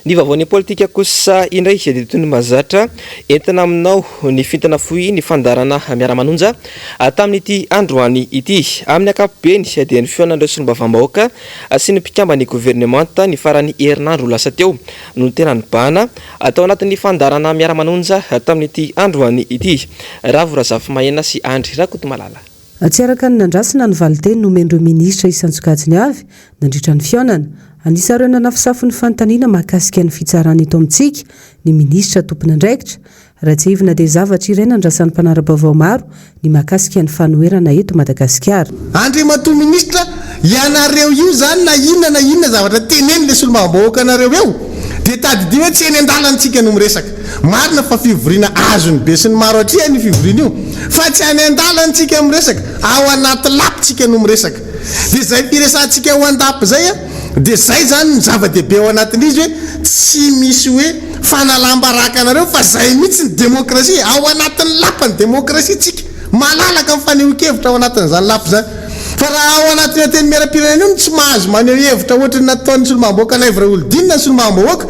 Ny vaovaon'ny politika kosa indray dia toy ny mahazatra entina aminao ny fintina fohy ny fandaharana Miara-manonja tamin'ity androany ity. Amin'ny ankapobeny dia ny fihaonan'ireo solombavambahoaka sy ny mpikamban'ny governemanta ny faran'ny herinandro lasa teo no tena nibahana tao anatin'ny fandaharana Miara-manonja tamin'ity androany ity. Ravo Razafimahina sy Andry Rakotomalala. Tsy araka ny nandrasina ny valinteny nomen'ireo minisitra isan-tsokajiny avy nandritra ny fihaonana. Anisan'ireo nanafosafo ny fanontaniana mahakasika ny fitsarana eto amintsika ny minisitra tompon'andraikitra. Raha tsiahivina dia zavatra iray nandrasan'ny mpanara-baovao maro ny mahakasika ny fanoherana eto Madagasikara. Andriamatoa Minisitra, Ianareo io zany na inona na inona zavatra teneny le solombavambahoaka nareo eo dia tadidio hoe tsy eny andalany tsika no miresaka. Marina fa fivoriana azony be sy ny maro atrihany io fivoriana io fa tsy any andalany tsika miresaka ao anaty lap tsika no miresaka. Dia zay firesahantsika ao andap zay a dia zay zany no zava dehibe ao anatin'izy hoe tsy misy hoe fanalam-baraka anareo fa zay mihitsy ny demokrasia e! Ao anatin'ny lap ny demokrasia tsika. Malalaka ny fanehoan-kevitra ao anatin'izany lafy izany. Fa raha ao anatin'io Antenimierampirenena io no tsy mahazo maneho hevitra hoatry ny nataon'ny Solombavambahoaka Laivo Raholdina ny Solombavambahoaka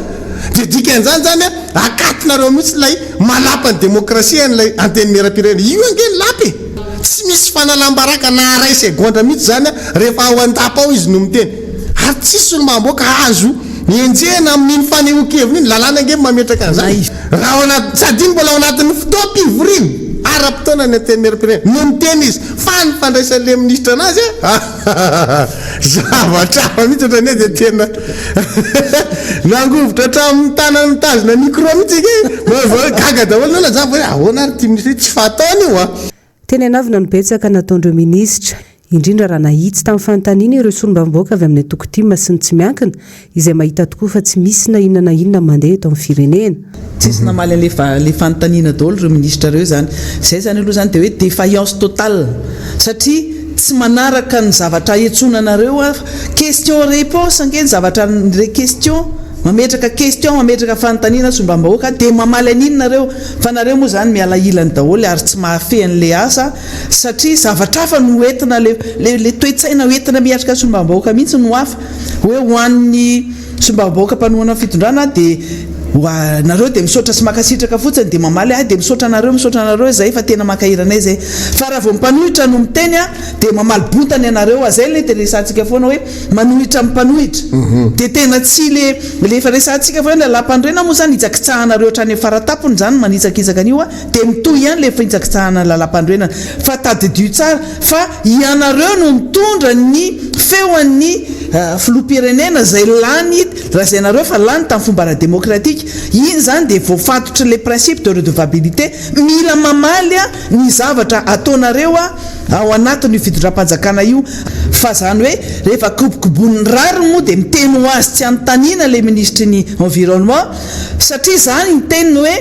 dia dikan'izany izany hoe akatinareo mihitsy ilay malapan'ny demokrasia an'ilay Antenimierampirenena. Io ange ny lapa e! Tsy misy fanalam-baraka na arrêt segondra mihitsy izany rehefa ao an-dapa ao izy no miteny. ary tsisy ny mahaboaka azo enjehina amin'iny fanehoan-keviny iny, lalàna ange no mametraka an'izany, raha ao anaty, sady iny mbola ao anatin'ny fotoam-pivoriana ara-potoana ny Antenimierampirenena no niteny izy fa ny fandraisan'ilay minisitra anazy ahahahahah zavatra hafa mihitsy otrania dia tena nangovitra hatramin'ny tanany mitazona micro mihitsy ange, manao izao hoe gaga daholo ny olona, za vao hoe ahoana ary ity minisitra ity, tsy fataony io an! Teny anavona no betsaka nataondreo minisitra, indrindra raha nahitsy tamin'ny fanontaniana ireo solombavamboaka avy amin'ny antoko tim sy ny tsy miankina, izay mahita tokoa fa tsy misy na inona na inona mandeha eto amin'ny firenena. Tsisy namaly an'ilay fanontaniana daholo ireo minisitra ireo izany. Izay izany aloha izany dia hoe defaillance totale satria tsy manaraka ny zavatra ahetsona anareo aho fa question reponse ange ny zavatra ny question mametraka question mametraka fanontaniana solombavambahoaka dia mamaly an'inona ireo? Fa nareo moa zany miala ilany daholo ary tsy mahafehy anle asa satria zavatra hafa no hoentina le le toetsaina hoentina miatrika solombavambahoaka mihitsy no hafa hoe ho an'ny solombavambahoaka mpanohana ny fitondrana de wa nareo de misaotra sy makasitraka fotsiny de mamaly ahy de misaotra anareo misaotra anareo zay fa tena mankahery anay zay fa raha vao ny mpanohitra no miteny a de mamaly bontany anareo a zay le de resahantsika foana hoe manohitra ny mpanohitra dia tena tsy le le efa resahantsika fa hoe la lapanorenana moa zany hitsakitsahanareo hatrany am faratapony zany manitsakitsaka an'io a dia mitohy ihany le fitsakitsahana la lapanorenana fa tadidio tsara fa ianareo no mitondra ny feon'ny filoham-pirenena zay lany lazainareo fa lany tam fomba ara demokratika iny zany dia voafatotry le principe de redevabilité mila mamaly ny zavatra ataonareo ao anatin' io fitondram-panjakana io, fa izany hoe rehefa kobokobon'ny rariny moa dia miteny ho azy tsy anontaniana ilay minisitry ny environnement satria izany ny teniny hoe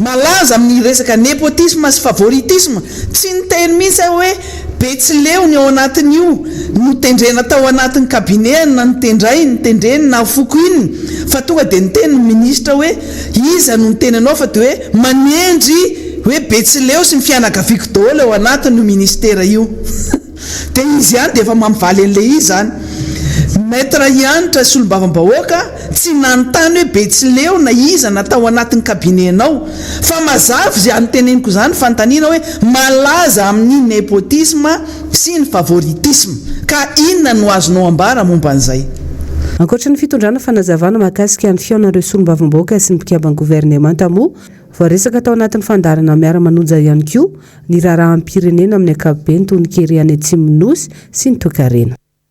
malaza amin'ny resaka nepotisme sy favoritisme, tsy niteny mihitsy aho hoe Betsileo ny ao anatin'io notendrena tao anatin'ny cabinet-any na notendrainy, tendreny na fokoininy fa tonga dia niteny ny minisitra hoe. Iza no niteny anao fa dia hoe manendry hoe Betsileo sy ny fianakaviako daholo ao anatin io ministera io? Dia izy ihany dia efa mampivaly an'ilay izy izany. Maître Hanitra Solombavambahoaka tsy nanontany hoe Betsileo na iza na tao anatin'ny cabinet-nao. Fa mazava izany teneniko izany fanontaniana hoe malaza amin'ny népotisme sy ny favoritisme, ka inona no azonao ambara momba an'izay? Ankoatra ny fitondrana fanazavana mahakasika ny fihaonan'ireo solombavambahoaka sy ny mpikamban'ny governemanta moa voaresaka tao anatin'ny fandaharana Miara-manonja ihany koa ny raharaham-pirenena amin'ny ankapobeny toy ny kere any Atsimon'ny Nosy sy ny toekarena.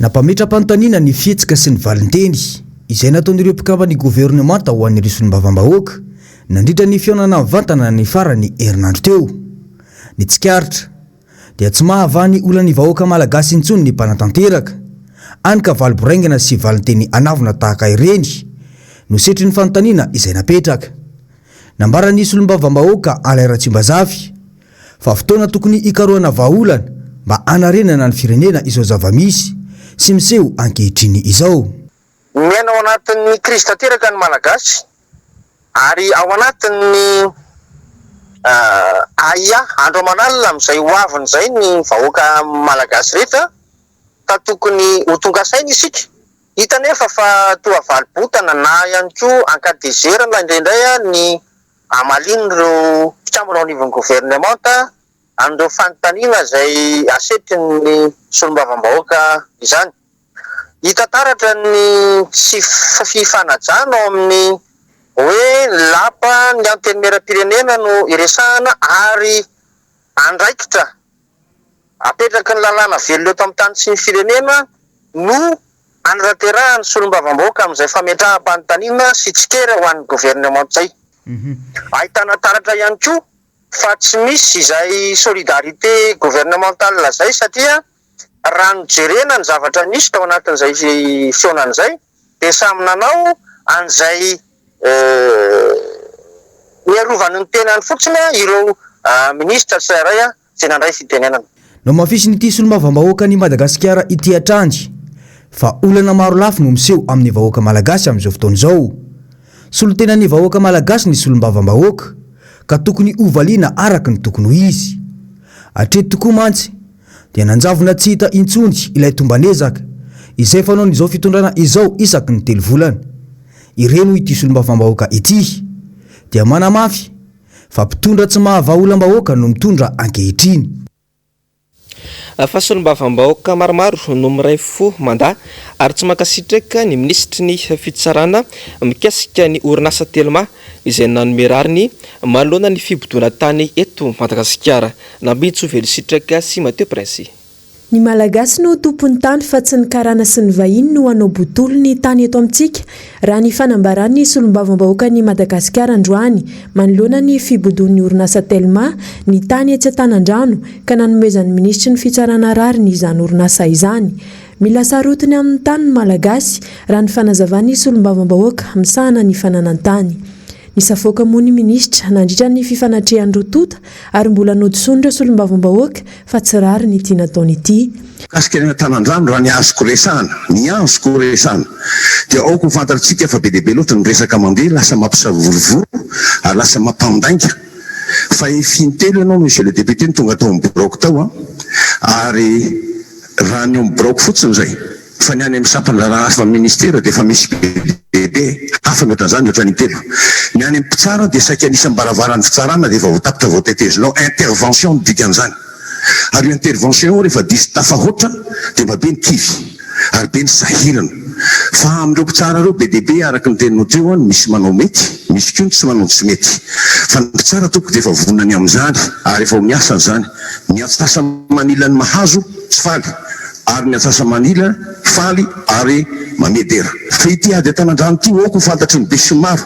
Nampametra-panontaniana ny fihetsika sy ny valinteny izay nataon'ireo mpikamban'ny governemanta ho an'ireo solombavambahoaka nandritra ny fihaonana mivantana ny faran'ny herinandro teo. Ny tsikaritra dia tsy mahavaha ny olan'ny vahoaka malagasy intsony ny mpanatanteraka, any ka valy boraingana sy valinteny anavona tahaka ireny no setrin'ny fanontaniana izay napetraka. Nambaran'ny solombavambahoaka Alain Ratsimbazafy fa fotoana tokony hikarohana vahaolana mba hanarenana ny firenena izao zava-misy sy miseho ankehitriny izao. Miaina ao anatin'ny krizy tanteraka ny Malagasy ary ao anatin'ny ahiahy andro aman'alina amin'izay ho aviny izay ny vahoaka Malagasy rehetra ka tokony ho tonga saina isika. Hita anefa fa toa valibotana na ihany koa ankadihizerana indraindray ny hamalian'ireo mpikambana ao anivon'ny governemanta an'ireo fanontaniana izay asetrin'ny solombavambahoaka izany. Hita taratra ny tsy fifanajana ao amin'ny hoe lapa ny Antenimierampirenena no iresahana ary andraikitra. Apetraky ny lalàna velona eto amin'ny tany sy ny firenena no anatanterahan'ny solombavambahoaka amin'izay fametraham-panontaniana sy tsikera ho an'ny governemanta izay. Ahitana taratra ihany koa fa tsy misy izay solidarité gouvernementale izay satria raha nojerena ny zavatra nisy tao anatin'izay fihaonana izay dia samy nanao an'izay Niarovany ny tenany fotsiny ireo minisitra tsirairay izay nandray fitenenana. Namafisin'ity solombavambahoakan'i Madagasikara ity hatrany fa olana maro lafy no miseho amin'ny vahoaka malagasy amin'izao fotoana izao. Solontenan'ny vahoaka malagasy ny solombavambahoaka ka tokony hovaliana araka ny tokony ho izy. Hatreto tokoa mantsy dia nanjavona tsy hita intsony ilay tomban'ezaka izay fanaon'izao fitondrana izao isaky ny telo volana. Ireny hoy ity solombavambahoaka ity dia manamafy fa mpitondra tsy mahavaha-olam-bahoaka no mitondra ankehitriny. Fa solombavambahoaka maromaro no miray fo mandà ary tsy mankasitraka ny minisitry ny fitsarana mikasika ny orinasa Telma izay nanome rariny manoloana ny fibodoana tany eto Madagasikara. Nampitso velon-sitraka sy Matteo Princi. Ny Malagasy no tompon'ny tany fa tsy ny karana sy ny vahiny no hanao botolo ny tany eto amintsika, raha ny fanambaran'ny solombavambahoakan'i Madagasikara androany, manoloana ny fibodoan'ny orinasa Telma ny tany etsy Antanandrano ka nanomezan'ny minisitry ny fitsarana rariny izany orinasa izany. Mila sarotiny amin'ny tany ny Malagasy, raha ny fanazavan'ny solombavambahoaka misahana ny fananan-tany. Nisafoaka moa ny minisitra nandritra ny fifanatrehan'ny roa tonta ary mbola nodison'ireo solombavambahoaka fa tsy rariny ity nataony ity. Mikasika ny hanatanandrano raha ny azoko resahana, ny azoko resahana dia aoka ho fantatritsika fa be dia be loatra ny resaka mandeha lasa mampisavorovoro ary lasa mampandainga. Fahefy intelo ianao Monsieur le Député no tonga tao amin'ny biraoko tao ary Raha ny eo amin'ny biraoko fotsiny izay, fa ny any amin'ny sampandraharaha hafa amin'ny minisitera dia efa misy be dia be hafa mihoatran'izany mihoatran'ny in-telo. Ny any amin'ny mpitsara dia saika an'isam-baravaran'ny fitsarana dia efa voatapitra vao tetezinao, intervention no dikan'izany. Ary io intervention io rehefa diso tafahoatra dia mba be ny kivy ary be ny sahirana. Fa amin'ireo mpitsara ireo be dia be araka ny teninao teo an, misy manao mety, misy koa ny tsy manao ny tsy mety. Fa ny mpitsara tompoko dia efa vonona ny amin'izany ary efa ao amin'ny asany izany. Ny antsasa-manila ny mahazo tsy faly, ary ny antsasa-manila faly ary mamedera. Fa ity ady an-tanan-drano ity aoka ho fantatry ny besinimaro,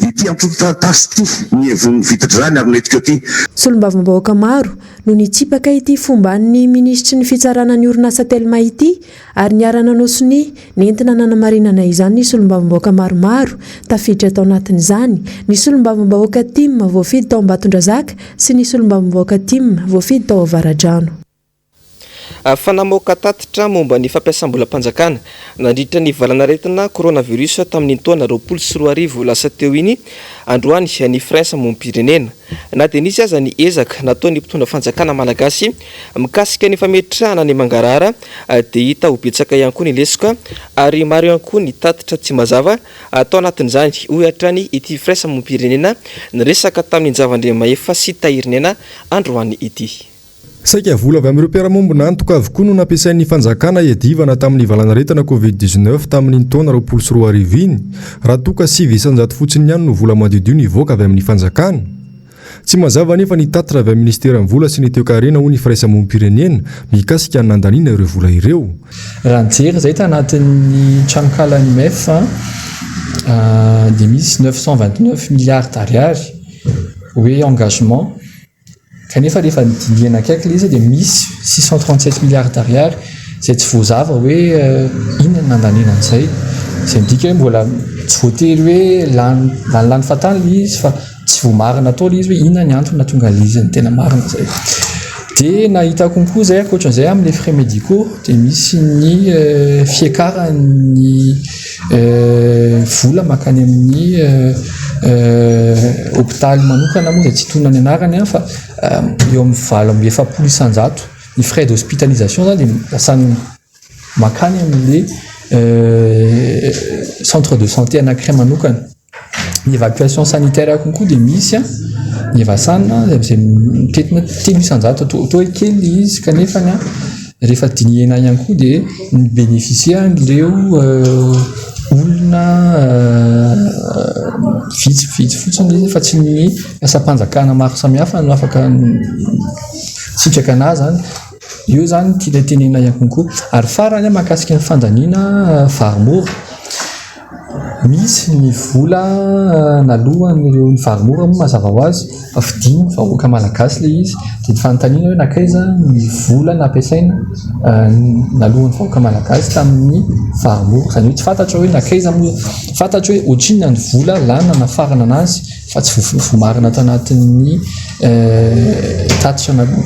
ity antontan-taratasy ity, ny hevon'ny vitidràny ary ny retikao ity. Solombavambahoaka maro no nitsipaka ity fomban'ny minisitry ny fitsarana ny orinasa Telma ity ary niara-nanao sonia nentina nanamarinana izany ny solombavambahoaka maromaro tafiditra tao anatin'izany ny solombavambahoaka tim voafidy tao Ambatondrazaka sy ny solombavambahoaka tim voafidy tao Avaradrano. Fa namoaka tatitra momba ny fampiasam-bolam-panjakana nandritra ny valanaretina coronavirus tamin'iny taona roapolo sy roa arivo lasa teo iny androany ny Frentsa mompirenena. Na dia nisy aza ny ezaka nataon'ny mpitondra fanjakana malagasy, Mikasika ny fametrahana ny mangarahara dia hita ho betsaka ihany koa ny lesoka ary maro ihany koa ny tatitra tsy mazava tao anatin'izany, hoy hatrany ity firaisamonim-pirenena niresaka tamin-dRavandriamahefa sy Tahirinena androany ity. Saika vola avy amin'ireo mpiara-mombona antoka avokoa no nampiasain'ny fanjakana hiadivana tamin'ny valanaretina covid dix-neuf tamin'iny taona roapolo sy roa arivo iny, raha toa ka sivy isan-jato fotsiny ihany no vola madiodio nivoaka avy amin'ny fanjakana. Tsy mazava anefa ny tatitra avy amin'ny Minisiteran'ny Vola sy ny Toekarena hoy ny Firaisamonim-pirenena mikasika ny nandaniana ireo vola ireo. Raha nijery izay tanatin'ny tranonkalan'ny MEF dia misy neuf cent vingt neuf milliards d'ariary hoe engagement kanefa rehefa dinihana akaiky ilay izy dia misy six cent trente sept milliards d'ariary izay tsy voazava hoe inona no nandaniana an'izay. Izay midika hoe mbola tsy voatery hoe lany lany fantany ilay izy fa. Tsy voamarina tao ilay izy hoe inona ny antony nahatonga ilay izy ny tena marina izay. Dia nahita concours izay ankoatran'izay amin'ny frais médicaux dia misy ny euh, fiakaran'ny euh, vola mankany amin'ny euh, hôpitaly manokana moa izay tsy tonona ny anarany an, fa eo amin'ny valo amby efapolo isanjato ny frais d'hospitalisation izany dia lasa mankany amin'ilay euh, centre de santé anankiray manokana. ny évacuation sanitaire konko dia misy an ny evasana izay mitetina telo isanjato toa hoe kely le izy kanefa an rehefa dinihana ihany koa dia ny bénéficier ireo olona vitsy vitsy fotsiny izy fa tsy ny asam-panjakana maro samihafa no afaka sitraka anah zany eo zany tena tenena ihany konko ary farany an makasika ny fandaniana vary mora Misy ny vola naloan'ireo nivady mora moa mazava ho azy fa fidin'ny vahoaka malagasy ilay izy dia ny fanontaniana hoe nankaiza ny vola nampiasaina naloan'ny vahoaka malagasy tamin'ny vady mora, izany hoe tsy fantatro hoe nankaiza moa, fantatro hoe ohatrinona ny vola lany nanafarana an'azy fa tsy voamarina ato anatin'ny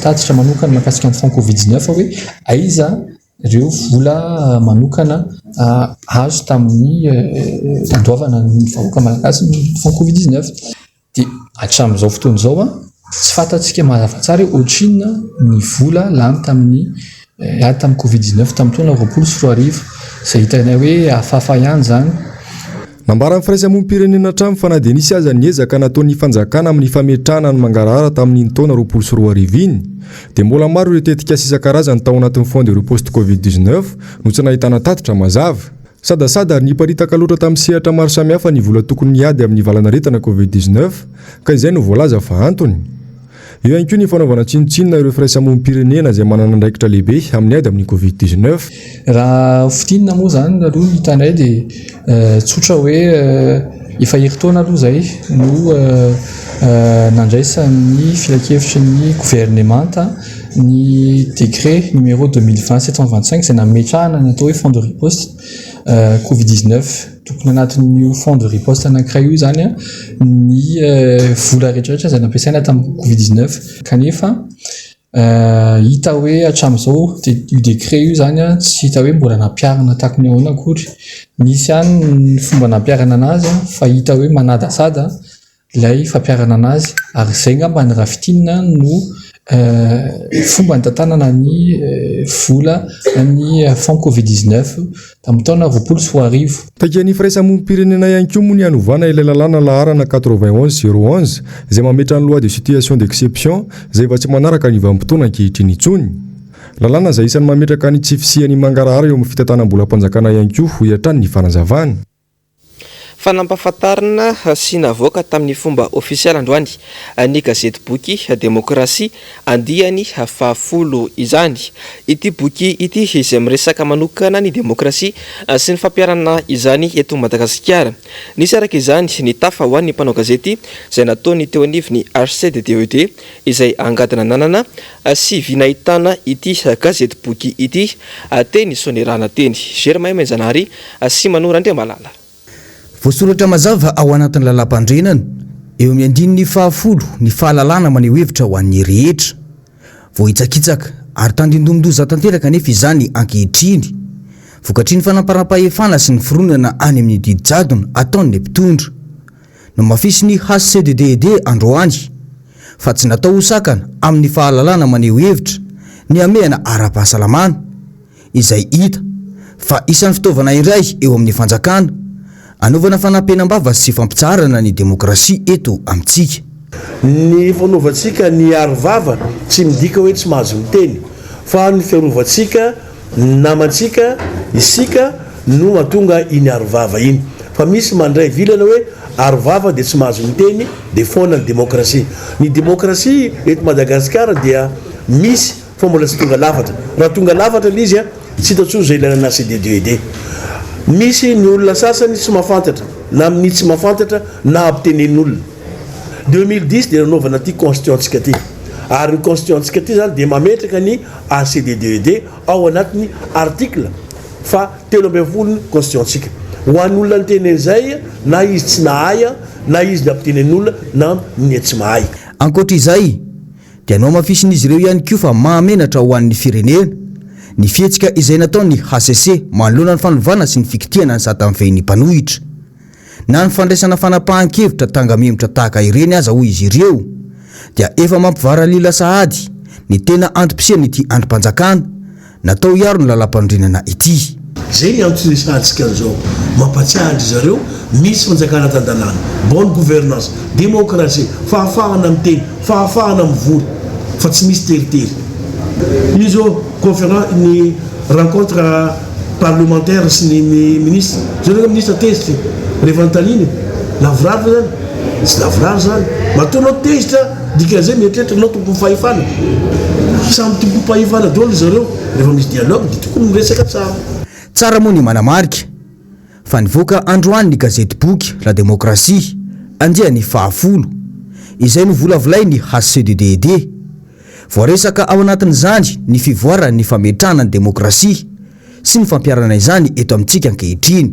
tatitra manokana mikasika ny franc covid dix neuf hoe aiza Ireo vola manokana azo tamin'ny fandoavana ny vahoaka malagasy ny fonds covid 19 dia hatramin'izao fotoana izao tsy fantatsika mazava tsara hoe ohatrinona ny vola lany tamin'ny lany tamin'ny covid 19 tamin'ny taona roapolo sy roa arivo izay hitanay hoe hafahafa ihany izany. Nambaran'ny firaisamonim-pirenena hatrany fa na dia nisy aza ny ezaka nataon'ny fanjakana amin'ny fametrahana ny mangarahara tamin'iny taona roapolo sy roa arivo iny, dia mbola maro ireo tetikasa isan-karazany tao anatin'ny Fonds de riposte Covid dix-neuf no tsy nahitana tatitra mazava. Sadasada ary niparitaka loatra tamin'ny sehatra maro samihafa ny vola tokony hiady amin'ny valanaretina Covid dix-neuf, ka izay no voalaza fa antony. Eo ihany koa ny fanaovana tsinontsinona ireo firaisamonim-pirenena izay manana andraikitra lehibe amin'ny ady amin'ny covid dix neuf. Raha fintinina moa izany aloha ny hitanay dia tsotra hoe efa herintaona aloha izay no nandraisan'ny filankevitry ny governemanta ny décret numéro deux mille vingt sept cent vingt cinq izay nametrahana ny atao hoe fonds de riposte. covid dix neuf tokony anatin'io fond de riposte anankiray io izany ny vola rehetrarehetra izay nampiasaina tamin'ny covid dix neuf kanefa hita hoe hatramin'izao dia io décret io izany tsy hita hoe mbola nampiharina takony ahoana akory, nisy ihany ny fomba nampiharana an'azy fa hita hoe manadasada. Ilay fampiharana anazy ary izay angamba ny raha fintinina no fomba nitantanana ny vola ny fonds covid dix-neuf tamin'ny taona roapolo sy roa arivo. Takia ny firaisamonim-pirenena ihany koa moa ny hanovana ilay lalàna laharana quatre-vingt onze zéro onze izay mametra ny loi de situation d'exception izay efa tsy manaraka ny vanim-potoana ankehitriny intsony. Lalàna izay isan'ny mametraka ny tsy fisian'ny mangarahara eo amin'ny fitantanam-bolam-panjakana ihany koa, hoy hatrany ny fanazavany. Fanampahafantarana sy navoaka tamin'ny fomba ofisialy androany ny gazety boky Demokrasia andiany fahafolo izany. Ity boky ity izay miresaka manokana ny demokrasia sy ny fampiharana izany eto Madagasikara. Nisy araka izany ny tafa ho an'ny mpanao gazety izay nataony teo anivon'ny HCDDED izay angadina nanana sy vy nahitana ity gazety boky ity teny Soanierana teny Germain Mainjanary Asia Manoro Andriamalala. Voasoratra mazava ao anatin'ny Lalàmpanorenana, eo amin'ny andininy fahafolo, ny fahalalahana maneho hevitra ho an'ny rehetra. Voahitsakitsaka ary tandindomin-doza tanteraka anefa izany ankehitriny, vokatry ny fanamparam-pahefana sy ny fironana any amin'ny didy jadona ataon'ny mpitondra. Nomafisin'ny HCDDED androany, fa tsy natao ho sakana amin'ny fahalalahana maneho hevitra, ny hamehana ara-pahasalamana. izay hita fa isan'ny fitaovana iray eo amin'ny fanjakana anaovana fanampenam-bava sy fampitsaharana ny demokrasia eto amintsika. Ny fanaovantsika ny aro vava tsy midika hoe tsy mahazo miteny fa ny fiarovantsika ny namantsika, isika, no mahatonga iny aro vava iny. Fa misy mandray vilana hoe aro vava dia tsy mahazo miteny dia foana ny demokrasia. Ny demokrasia eto Madagasikara dia misy. Fa mbola tsy tonga lafatra. Raha tonga lafatra le izy tsy hita tsony zao ilana ana CDD ED. Misy ny olona sasany tsy mafantatra na minia tsy mafantatra na ampitenenin olona. Deux mille dix dia nanaovana ty constituant tsika ty. Ary ny constituant tsika ty zany dia mametraka ny à CDD ED ao anatiny article fa telo ambin'ny folo ny constituant tsika. Ho any olona niteny any zay na izy tsy nahay na izy ny ampitenenin olona na minia tsy mahay. Ankoatra izay, dia nohamafisin'izy ireo ihany koa fa mahamenatra ho an'ny firenena ny fihetsika izay nataon'ny hcc manoloana ny fanovana sy ny fikitihana ny sata mifehin'ny mpanohitra na ny fandraisana fanapahan-kevitra tanga-memotra tahaka ireny aza hoy izy ireo dia efa mampivaralila sahady ny tena antom-pisian'ity andrim-panjakana Natao hiaro ny lalampanorenana ity. Zay ny antony sahantsika an'izao. Mampatsiahy an-dry zareo, misy fanjakana tan-dalàna, bonne gouvernance, démocratie, fahafahana miteny, fahafahana mivory, fa tsy misy teritery. Io zao conférence, ny rencontre parlementaire sy ny ministre, zao reo ministre tezitra e! rehefa anontanina e! lavorary ve zany? tsy lavorary zany! matoa anao tezitra, Dikan'izay mieritreritra anao tompom fahefana. Samy tompom pahefana daholo ry zareo. Rehefa misy dialogue dia tokony miresaka tsara. Tsara moa ny manamarika fa nivoaka androany ny gazetiboky La Démocratie, andiany fahafolo. Izay novolavolain'ny HCDDED. Voaresaka ao anatin'izany ny fivoaran'ny fametrahana ny demokrasia sy ny fampiharana izany eto amintsika ankehitriny.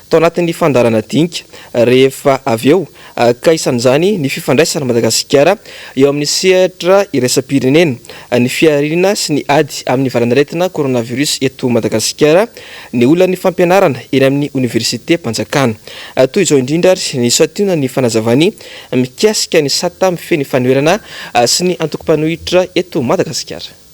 tao anatin'ny fandaharana dinika, rehefa avy eo ka isan'izany ny fifandraisan'i Madagasikara eo amin'ny sehatra iraisam-pirenena, ny fihariana sy ny ady amin'ny valan'aretina coronavirus eto Madagasikara, ny olan'ny fampianarana eny amin'ny oniversitem-panjakana. Toy izao indrindra ary ny santionan'ny fanazavany mikasika ny sata mifehy ny fanoherana sy ny antokom-panohitra eto Madagasikara.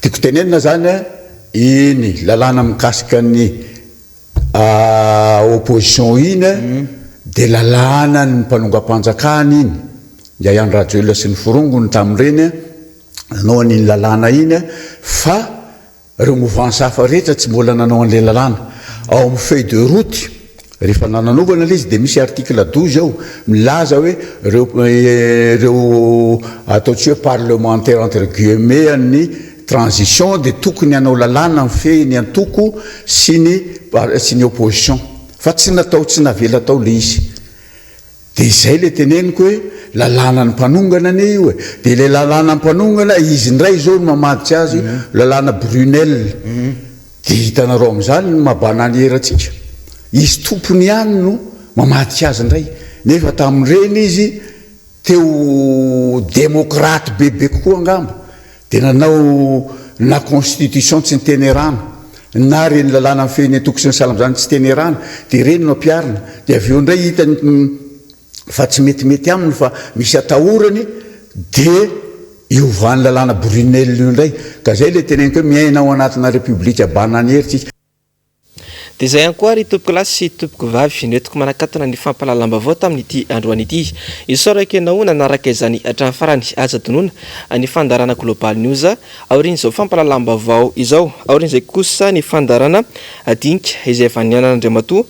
Tiako tenenina izany, iny lalàna mikasika ny opposition iny dia lalàna ny mpanongam-panjakana iny, i Andry Rajoelina sy ny forongony tamin'ireny nanao an'iny lalàna iny fa ireo mouvance hafa rehetra tsy mbola nanao an'ilay lalàna. Ao amin'ny feuille de route. Rehefa nananovana ilay izy dia misy article douze ao milaza hoe ireo ireo ataontsika hoe parlementaires entre guillemets an'ny transition dia tokony hanao lalàna mifehy ny antoko sy ny sy ny opposition fa tsy natao tsy navela tao ilay izy. Dia izay ilay teneniko hoe lalànan'ny mpanongana anie io e! Dia ilay lalànan'ny mpanongana, izy indray izao no mamadika azy, lalàna Brunel. Dia hitanareo amin'izany ny maha-bana an'i erantsika. Izy tompony ihany no mamadika azy indray. Nefa tamin'ireny izy te ho demokraty bebe kokoa angamba. Dia nanao na constitution tsy niteny erana, na ireny lalàna mifehy ny antoko sy ny salam zany tsy teny erana, dia ireny no ampiharina, dia avy eo indray hitany fa tsy metimety aminy fa misy atahorany dia iovan'ny lalàna Brunel io indray, ka izay ilay teneniko hoe miaina ao anatina Repoblika bananier tsika. Dia izay ihany koa ry tompokolahy sy tompokovavy no entiko manakatona ny fampahalalam-baovao tamin'ity androany ity. Isaorako ianao nanaraka izany hatramin'ny farany. Aza donona ny fandaharana Global News aorian'izao fampahalalam-baovao izao. Aorian'izay kosa ny fandaharana dinika izay avy any an'Andriamatoa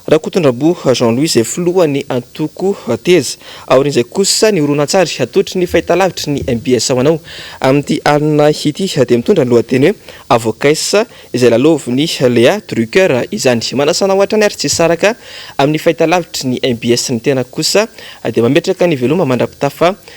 Rakotondramboa Jean Louis izay filohan'ny antoko Teza. Aorian'izay kosa ny horonantsary atolotry ny fahitalavitry ny mbs ho anao amin'ity alina ity dia mitondra ny lohateny hoe Avocats izay lalaovin'i Léa Drucker izany. Manasana ho hatrany ary tsy saraka amin'ny fahitalavitry ny mbs ny tenako kosa dia mametraka ny veloma mandrapitafa